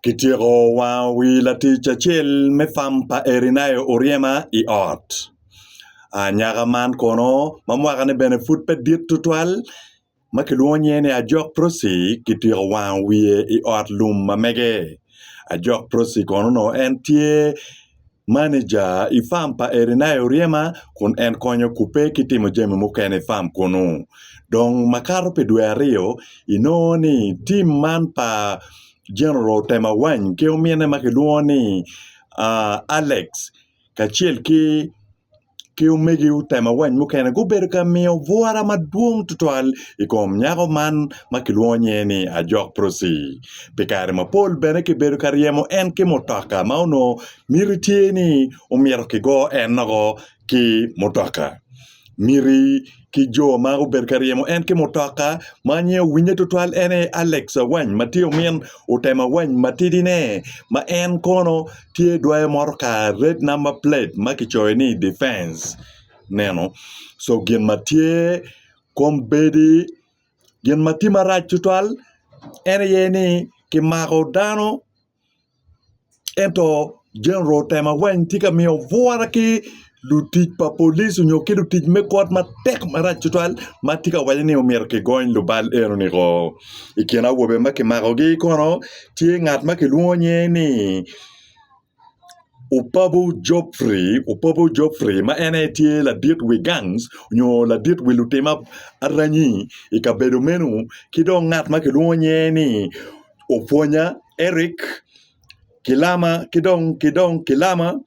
Kityeko wango wi latic acel me fam pa Erineo Oryema i ot. Anyaka man kono ma mwakane bene pud pe dit tutwal ma kilwongo nyinge ni Ajok Prossy kityeko wango wiye i ot lum ma mege. Ajok Prossy kono onongo en tye maneja i fam pa Erineya oryema kun en konya kubbe ki timo jami mukene i fam kunu. Dong makato pi dwe aryo, inongo ni tim man pa General otema wany ki omine ma kilwongo ni Alex kacel ki ki omege otema wany mukene gubedo ka miyo bwura madwong tutwal i kom nyako man ma kilwongo nyinge ni Ajok Prossy pi kare mapol bene kibedo ka ryemo en ki mutoka ma onongo miti tye ni omyero kigo en woko ki mutoka miti ki jo ma obedo ka ryemo en ki mutoka ma an aye owinye tutwal en aye Alex Awany ma tye omin Otemo Awany matidine ma en kono tye dwoyo motoka red namba plate ma kicoyo ni difenc neno so gin ma tye kombeddi gin ma tye marac tutwal en aye ni kimako dano ento General otemo weng tye ka miyo bwura ki lutic pa police nyo ki lutic me kot matek marac tutwal ma tye ka waco ni myero kigony lubal enoni woko i kin awobe ma kimakogi kono tye ngat ma kilwongo nyinge ni Opabu Godfrey, Opabu Godfrey ma en aye tye ladit wi gangs nyo ladit wi lutim aranyi i kabedo meno ki dong ngat ma kilwongo nyinge ni opwonya Eric ki lama ki dong ki dong ki lama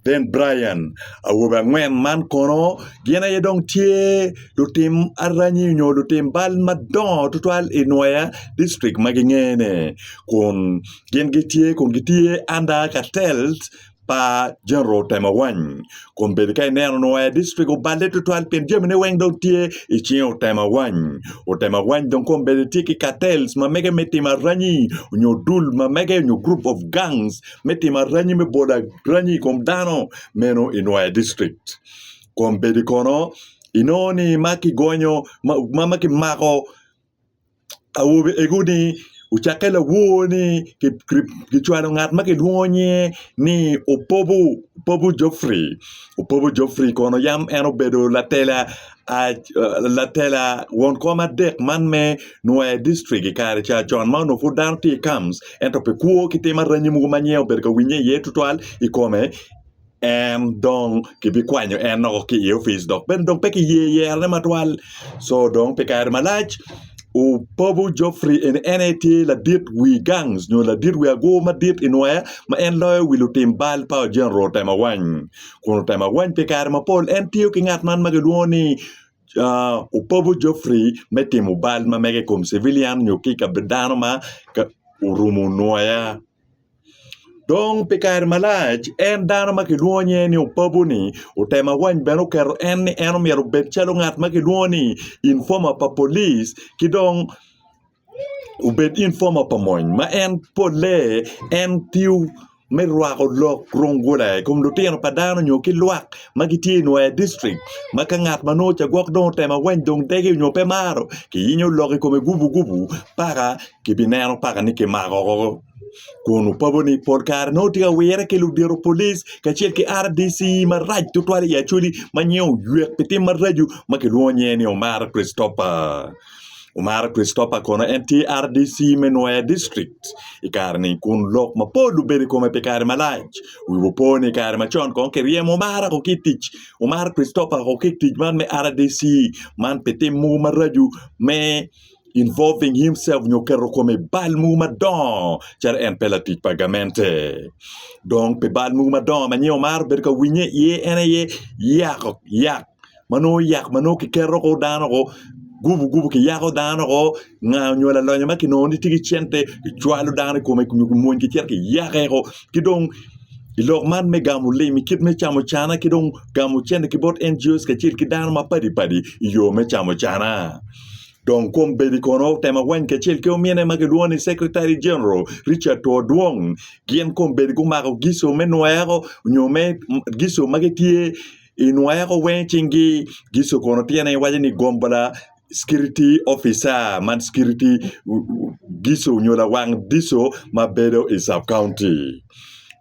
then Brian awobe angwen man kono gin aye dong tye lutim aranyi nyo lutim bal madongo tutwal i Nwoya district ma gingene kun gin gitye kun gitye under cartels pa General Temawany kun bedo ka ineno nongo aye district oballe tutwal pien jamine weng dong tye i cinge Otemawany. Otemawany dong kong bene tye ki cartels ma mege me timo aranyi nyo dul ma mege nyo group of gangs me timo aranyi me bolo aranyi i kom dano meno i nwoya district kun bedi kono inongo ni ma kigonyo ma kimako awobe ego ni ocakke lawor ni kicwalo ngat ma kilwongo nyinge ni opobo opobo Godfrey opobo Godfrey kono yam en obedo latela latela won kom adek man me nwoya dictrik i kare ca con ma onongo pud dano tye i kams ento pi kwo ki tim aranyi mogo ma nyinge obedo ka winye iye tutwal i kome. en dong kibikwanyo en loko ki i opic dok bene dong pe kiye yerone matwal co dong pi kare malac opobo Geoffrey eni en aye tye ladit wi gang nyo ladit wi agur madit i nwoya ma en loyo wi lutim bal pa Ojenro otemo awany kun otemo awany pi kare mapol en tiyo ki ngat man ma kilwongo ni opobo Geoffrey me timo bal ma mege i kom civilian nyo ki i kabi dano ma orumo nwoya. Dong pi kare malac, en dano ma kilwongo nyinge ni Opabu-ni otemo awany bene oketo en ni en omyero obed calo ngat ma kilwongo ni informa pa polic ki dong obed informa pa mony ma en polle en tiyo me rwako lok rungula i kom lutino pa dano nyo ki lwak ma gitye i nwaer dictrict ma ka ngat ma nongo cagwok dong otemo awany dong dege nyo pe maro kiyinyo lok i kome gubugubu paka kibineno paka ni kimako woko kun opapo ni pol kare nongo tye ka wire ki ludito polic kacel ki RDC marac tutwal i Acholi ma nyiye oywek pi tim maraco ma kilwongo nyiye ni Omara Christopher, Omara Christopher kono en tye RDC me Nwoya district i kare-ni kun lok mapol obedo i kome pi kare malac wi opo ni i kare macon kono kiryemo Omara ki i tic Omara Christopher ki i tic man me RDC man pi tim mogo maraco me involving himself nyo keto kome i bal mogo madongo calo en pe latic pa gamente dong pi bal mogo madongo ma nyo maro bedo ka winye iye en aye yako yak ma nongo yak ma nongo kiketo ko dano ko gubu gubu ki yako dano ko nga nyo lalonya ma kinongo ni tye ki cente ki cwalo dano i kome nyo ki mwony ki cito ki yake ko ki dong i lok man me gamo lim i kit me camo cana ki dong gamo cente ki bot NGOs kacel ki dano mapadi padi i yo me camo cana Dong kwom bedi kono otemo weny kacel ki omine ma gilwongo ni Secretary General Richard Two Dwong gin kwom bedi gumako gico me nweko nyo me gico ma gitye i nweko weng i cinggi gico kono tyene iwaco ni gombla Security Officer man security gico nyo lawang gico ma bedo i Sub County.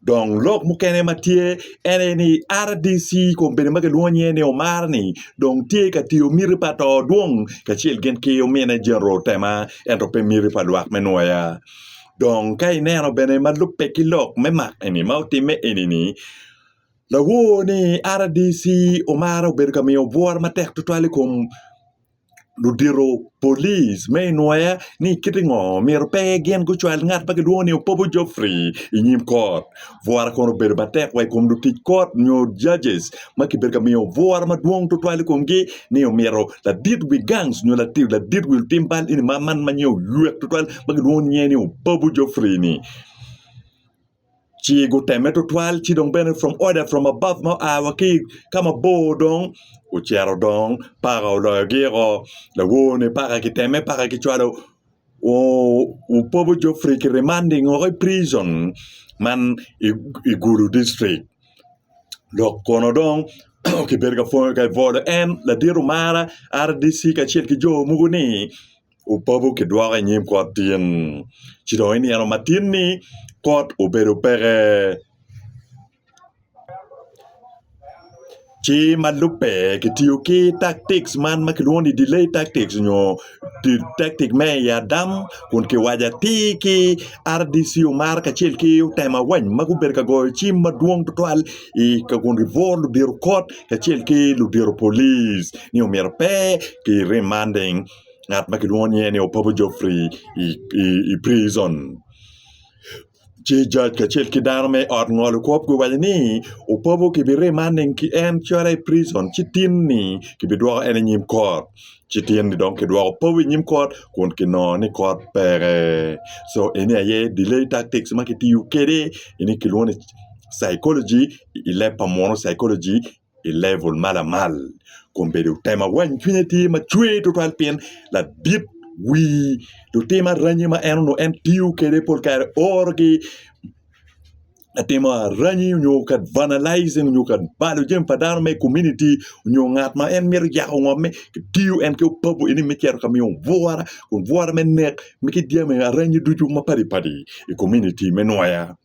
Dong lok mukene ma tye en aye ni RDC kun bene ma kilwongo nyinge ni Omar ni dong tye ka tiyo miti pa to dwong kacel gin ki omine General Tema ento pe miti pa lwak me Nwoya. Dong ka ineno bene ma lubbe ki lok me mak eni ma otimme eni ni lawor ni RDC Omar obedo ka miyo bwura matek tutwal i kom ludito police me inwoya ni kiti ngo myero pe gin gucwal ngat ma kilwongo ni Opobo Geoffrey i nyim kot bwura kono obedo matek wa i kom lutic kot nyo judges ma kibedo ka miyo bwura madwong tutwal i komgi ni omyero ladit wi gangs nyo ladit wi lutim bal eni ma man ma nyenge oywek tutwal ma kilwongo nyinge ni Opobo Geoffrey-ni. Ci guteme tutwal ci dong bene from order from above ma oa wa ki ka mabor dong ocito dong paka oloyogi o lawone paka kiteme paka kicwalo opobo Geoffrey ki remanding woko i prison man i Gulu district lok kono dong kibedo ka bwolo en ladit omara RDC kacel ki jo mogo ni opapo ki dwoko i nyim kot tin ci dong i nino matin ni kot obedo peke ci ma lubbe ki tiyo ki taktik man ma kilwongo ni delay taktik nyo taktik me i adam kun ki waco atir ki RDC omar kacel ki otema weng ma gubedo ka goyo cim madwong tutwal i ka kun ki bworo ludito kot kacel ki ludito polic ni omyero pe ki remanding ngat ma kilwongo nyinge ni Opobo Geoffrey i pricon. Ci jac kacel ki dano me ot ngolo kop guwaco ni Opobo kibirimanne ki en calo i pricon ci tin-ni kibidwoko en i nyim kot. Ci tin-ni dong kidwoko Opobo i nyim kot kun kinongo ni kot peke. Co eni aye delay tactics ma kitiyo kwede eni kilwongo ni psychology i leb pa muno, psychology. i level ma lamal kun bedo tema weng cwinye tye macwer tutwal pien ladit wii lutim aranyi ma en onongo en tiyo kwede pol kare orogi me timo aranyi nyo ka vandalism nyo ka balo jami pa dano me komuniti nyo ngat ma en mito yako ngomme kitiyo en ki opapo eni me cito ka miyo bwura kun bwura me nek ki jami aranyi ducu mapadi padi i komuniti me nwoya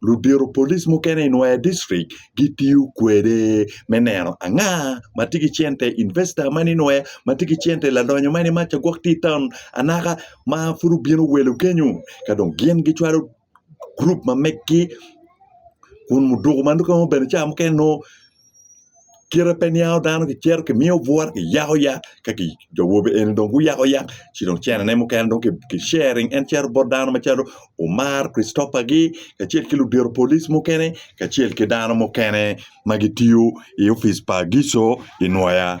ludito polic mukene i Nwoya District gitiyo kwede me neno anga ma tye ki cente, investor man i Nwoya ma tye ki cente, ladonyo man i maca gwok tye i taun anaka ma pud obino welo kenyu ka dong gin gicwalo gurup ma meggi kun muduku ma nongo bene ca mukene nongo kite pe niango dano kicito kimiyo bwot kiyako yat ka jo awobe eni dong guyako yat ci dong cenane mukene dong ki cering en cito bot dano macalo Omar Christopher gi kacel ki ludito polic mukene kacel ki dano mukene ma gitiyo i opic pa Gico i nwoya.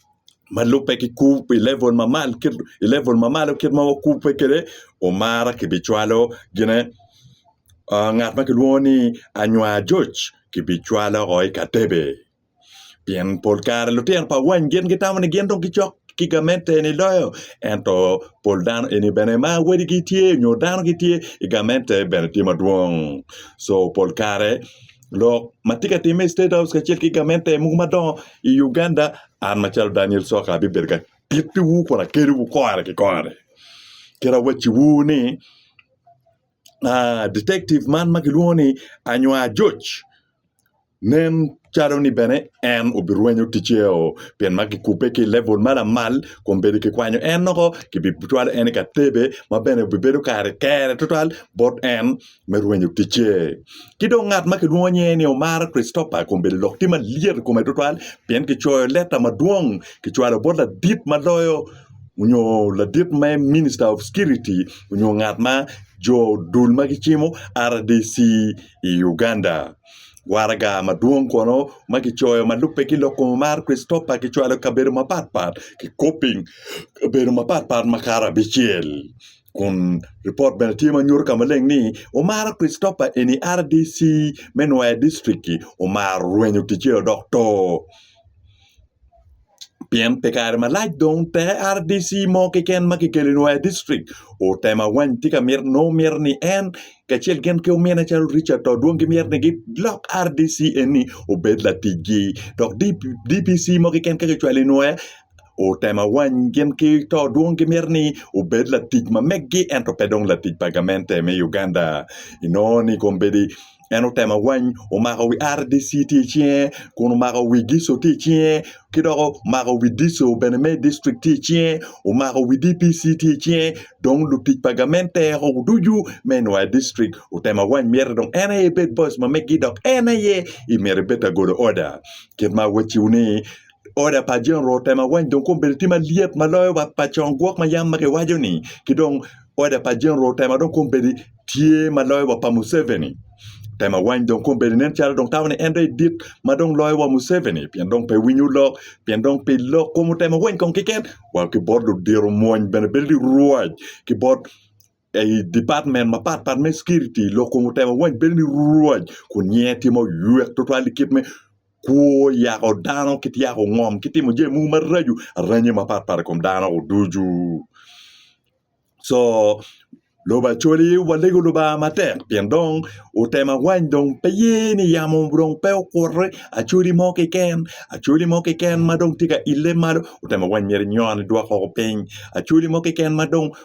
ma lubbe ki kub i level mamalo kit i level mamalo kit ma wakubbe kwede omara kibicwalo gine ngat ma kilwongo ni Anywa Ajoc kibicwalo o i ka Tebe pien pol kare lutino pa wany gin gitamo ni gin dong gicok ki gamente ni loyo ento pol dano eni bene ma wadigi tye nyo dano gitye i gamente bene tye madwong co pol kare lok ma tye ka timme i State House kacel ki gamente mogo madongo i Uganda, an macalo Daniel Soka abibedo ka tittiwu kun akelliwu kore ki kore. Kit awacciwu ni aa, ditectiv man ma kilwongo ni Anywa Ajoc nen calo ni bene en obirwenyo ticceo pien ma kikubbe ki i levul ma lamal kun bene kikwanyo en woko kibicwalo en i ka tebe ma bene obibedo kare kere tutwal bot en me rwenyo ticce. Ki dong ngat ma kilwongo nyinge ni Omar Christopher kun bedo lok tye malyet i kome tutwal pien kicoyo leta madwong kicwalo bot ladit ma loyo nyo ladit me Minister of Security nyo ngat ma jo dul ma gicimo RDC i Uganda. Waraga madwong kono ma kicoyo ma lubbe ki lok kom Omar Christopher kicwalo i kabedo mapat pat kikopo i kabedo mapat pat makato abicel. kun ripot bene tye ma nyuto ka maleng ni omara Christopher eni rdc me Nwoya District omaro rwenyo ticce odok to pien pi kare malac dong teke rdc mo keken ma kikelo i Nwoya District otemo awany tye ka mito nongo mito ni en kacel gin ki omine calo Richard to dong gimito ni gilok rdc eni obed laticgi dok DPC mo keken ka kicwalo i Nwoya otemo awany gin ki to dwong gimito ni obed latic ma megi ento pe dong latic pa gamente me Uganda inongo ni kombeddi en otemo awany omako wi RDC tye i cinge kun omako wi Gico tye i cinge ki dok omako wi Dico bene me dictrik tye i cinge omako wi DPC tye i cinge dong lutic pa gamente o ducu me NYa dictrik otemo awany myero dong en aye bed boss ma megi dok en aye myero ebed ta golo order kit ma awaciwu ni Oda pa General otemo awany dong kong bedo tye malyet ma loyo wa pa con gwok ma yam ma kiwaco ni ki dong oda pa General otemo dong kong bedo tye ma loyo wa pa Museveni otemo awany dong kong bedo nen calo dong tamo ni en dong dit ma dong loyo wa Museveni pien dong pe winyo lok pien dong pi lok kong otemo awany kong keken wa ki bot ludito omwony bene bedo ni rwac ki bot I department mapat pat me security, lok kun otemo wany bedo ni Rwac kun nyinge tye ma oyek twatwal i kit me kwo, yako dano ki tyeko ngom ki timo jami mogo maraco aranye mapat pat i kom dano ducu. Co lobo Acholi walego Lubanga matek pien dong otemo awany dong pe ye ni yamo dong pe okuto Acholi mo keken, Acholi mo keken ma dong tye ka ile malo otemo awany myero enyon edwok woko piny Acholi mo keken ma dong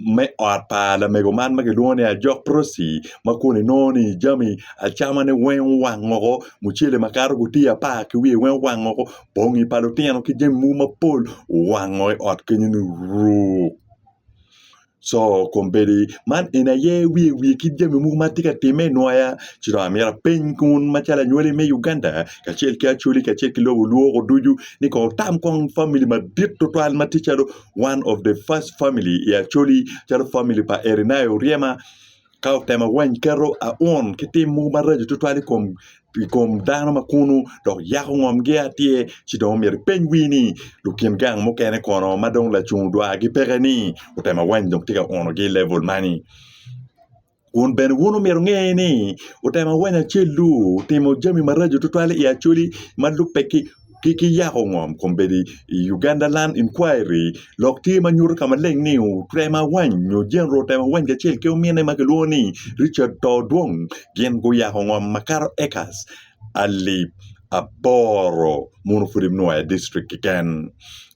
me ot pa lamego man ma kilwongo ni ajok prossy ma kun inongo ni jami acamane weng owang woko mucele ma kato gutiya apar ki wiye weng owang woko bongi pa lutino ki jami mogo mapol owango i ot kenyo ni ruu co kombeddi man eni aye wiye wiye kit jami mogo ma tye ka timme i nwoya ci dong amito apeny kun macalo anywali me Uganda kacel ki acholi kacel ki lobo lwoko ducu ni kong wutam kong famili madit tutwal ma ticalo one of the first family i Acholi calo family pa Erinai Oryema ka otemo weny keto aun ki tim mogo maraco tutwal i kom i kom dano ma kunu dok yako ngomgi atir ci dong omyero ipeny wii ni lukin gang mukene kono ma dong lacung dwagi peke ni otemo weny dong tye ka unogi i level mani. Kun bene wun omyero wunge ni otemo awanya acel-lu otimo jami maraco tutwal i Acholi ma lubbe ki yako ngom kombeddi i Uganda Land Inquiry lok tye ma nyuto ka maleng ni otemo awany nyo Jenro otemo awany kacel ki ominne ma kilwongo ni Richard Todwong gin guyako ngom makato acres alip aboro muno pud inwoyo i distrik keken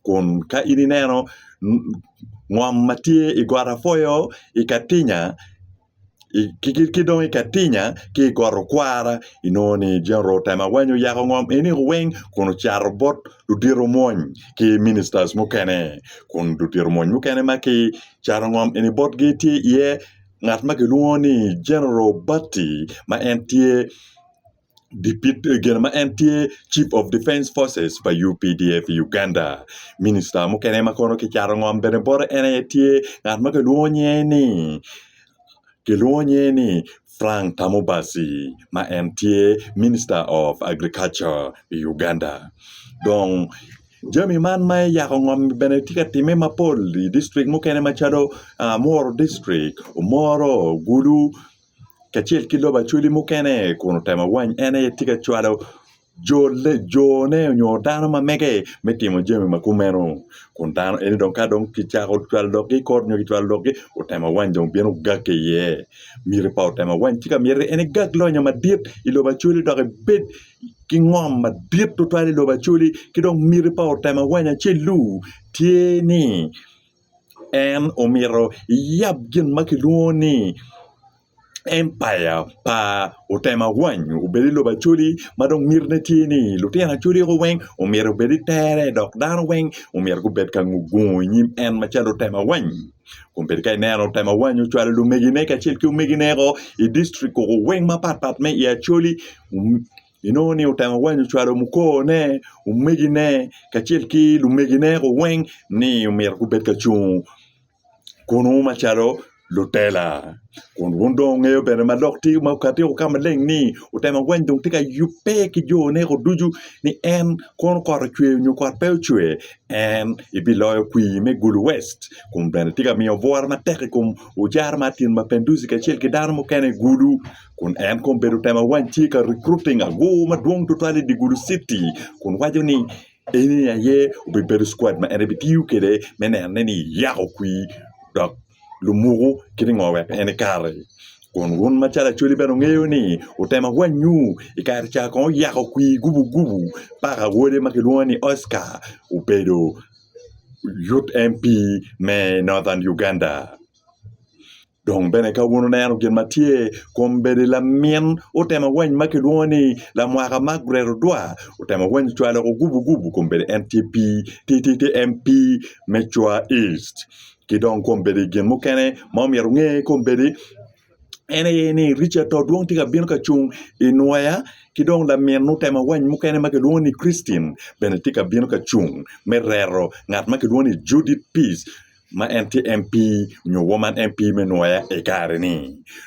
kun ka in ineno ngom ma tye i got apwoyo i Katinya ki dong i Katinya ki i got Okwara inongo ni Jeneral otem awany oyako ngom eni weng kun ocato bot ludito omwony ki Minister mukene kun ludito omwony mukene ma kicato ngom eni botgi tye iye ngat ma kilwongo ni Jeneral Bati ma en tye gin ma en tye chief of defence forces pa updf i Uganda minista mukene ma kono kicato ngom bene bote en aye tye ngat ma kilwongo nyinge ni kilwongo nyinge ni Frank Tamubazi ma en tye minista of agriculture i Uganda dong jami man ma yako ngom bene tye ka timme mapol i distrik mukene macalo Muru distrik, Omoro, Gulu. kacel ki lobo acwali mukene kun otemo wany en aye tye ka cwalo jone nyo dano ma mege me timo jami ma kumeno kun dano eni dong ka dong kicako cwalo lok-ki i kor nyo kicwalo lok-ki otemo wany dong bino gakke iye miti pa otemo wany ci ka miti en egag lonyo madit i lobo acwali dok ebed ki ngom madit tutwal i lobo acwali ki dong miti pa otemo wany acel-lu tye ni en omito eyab gin ma kilwongo ni empaya pa otema wany obed i lobo Acholi ma dong mitine tye ni lutino Acholi oko weng omyero gubed i tere dok dano weng omyero gubed ka gungo i nyim en macalo otema wany kun bedi ka ineno otema wany ocwalo lumegine kacel ki omegine woko i dictrik weng mapatpat me i Acholi. Inongo ni otemo wanyo cwalo mukone, omegine, kacel ki lumegine woko weng ni omyero gubed ka cung kunwu macalo lutela. Kun wun dong wugeyo bene ma lok tye ma okatio ka maleng ni otemo wany dong tye ka yubbe ki jone woko ducu ni en kono kot ocwer nyo kot pe ocwer en ebiloyo kwir me Gulu West kun bene tye ka miyo bwura matek i kom ojara ma Atin ma Penduzi kacel ki dano mukene i Gulu. kun en kong bedo tema wang tye ka recruiting agoo madwong tutwal i dye Gulu City kun waco ni eni aye obibedo squad ma en ebitiyo kwede me neno ni yako kwir dok lumuku giringo wek en ekati. Kun wun macalo Acholi bene wungeyo ni otema wangngu i kare ca kong oyako kwir gubu gubu paka wode ma kilwongo ni Oscar obedo Youth MP me Northern Uganda. Dong bene ka wun wuneno gin ma tye kom bedo lamin utemo weny ma kilwongo ni lamwaka Margaret Odwa otemo weny ocwalo loko gubu gubu kom bedo en tye pii ti ti ti en pii me cwa east ki dong kom bedo gin mukene ma omyero onge kom bedo en aye ni Richard to dwong tye ka bino ka cung inwoya ki dong lamin otemo weny mukene ma kilwongo ni Christine bene tye ka bino ka cung me rero ngat ma kilwongo ni Judith Peace ma en tye MP nyo woman MP me nwoya i kare-ni.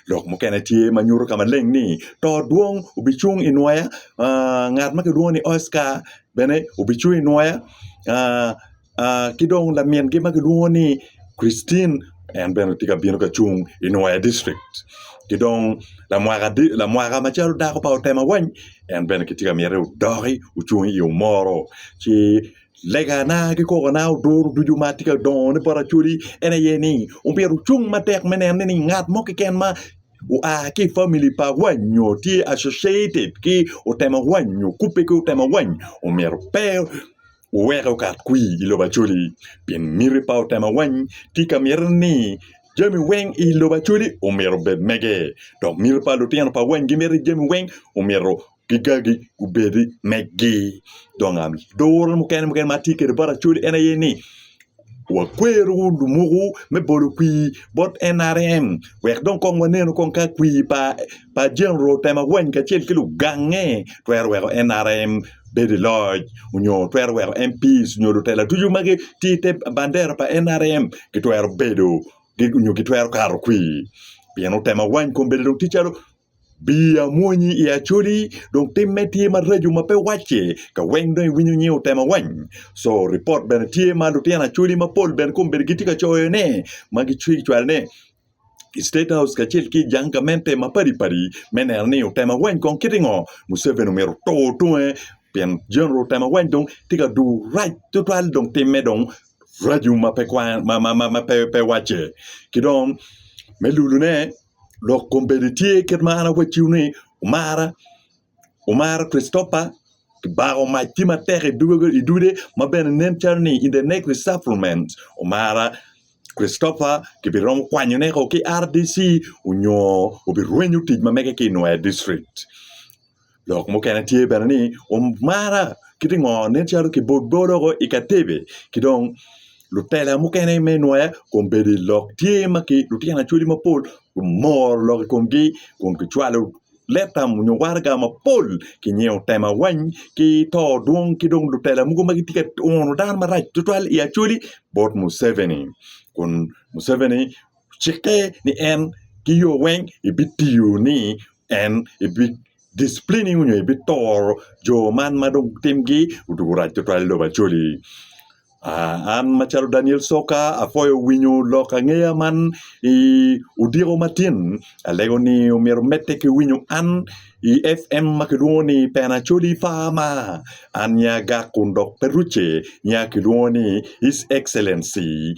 Lok mukene tye ma nyuto ka maleng ni to dwong obicung i nwoya ngat ma kilwongo ni Oscar bene obicung i nwoya ki dong lamingi ma kilwongo ni Christine en bene tye ka bino ka cung i nwoya dictrik ki dong lamwaka macalo dako pa Otema Wany en bene kitye ka myero odok ocung i yo moro ci Legana ki kokona oduro ducu ma atye ka dongo ni bot Acholi en aye ni omyero ocung matek me neno ni ngat mo keken ma oa ki i famili pa awany nyo tye associated ki otemo awany nyo kubbe ki otemo awany omyero pe oweke okat kwi i lobo Acholi pi miti pa otemo awany tye ka miti ni jami weng i lobo Acholi omyero obed mege dok miti pa lutino pa awany gimiti jami weng omyero gigagi gubedi megi dong duru mukene ma atye kwede bot acholi en aye ni wakwero lumuku me bolo kwir bot NRM wek dong kong wanenu kong ka kwir pa General otemo wany kacel ki lugange twero weko NRM bedo i loc nyo twero weko MP nyo lutela ducu ma gitye i te bandera pa NRM gitwero bedo nyo gitwero kato kwir pien otemo wany kong bedo dong tye calo Bii amwonyi i Acholi dong timme tye maraco ma pe wacce ka weng dong iwinyo nying otema wany? Co ripot bene tye ma lutino Acholi mapol bene kombeddi gitye ka coyo ne ma gicwalo ne i State House kacel ki i jang gamente mapadi padi me neno ni otema wany kong kiti ngo. Museveni omyero otur tunge pien General otema wany dong tye ka dur rac tutwal dong timme dong raco ma pe wacce ki dong me lulu ne. Lok kom bene tye kit ma an awacciwu ni, Wumara, wumara Kricitopa, kibako mac tye matek i dude ma bene nen calo ni in the next resufflement. Wumara Kricitopa kibiromo kwanyone ki RDC onyo obirwenyo tic ma mege ki i Nwoya District. Lok mukene tye bene ni omara ki dye ngo nen calo ki bol bol woko i ka tebe ki dong lutela mukene me nwoya kombeddi lok tye ma ki lutino acholi mapol gumoro lok i komgi kun ki cwalo leta nyo waraga mapol ki nyeyo tema wany ki to dwong ki dong lutela mogo ma gitye ka uno dano marac tutwal i acholi bot Muceveni kun Muceveni Cikke ni en ki yo weng ebitiyo ni en ebi dicplin-ni nyo ebitoro jo man ma dong timgi odwogo rac tutwal i lobo Acholi. An macalo Daniel Coka apwoyo winyo lok angeya man i odiko ma tin alego ni myero omedde ki winyo an i FM ma kilwongo ni Pena Acholi Farma an aye agak kun dok pe rucce nya kilwongo ni His Excellency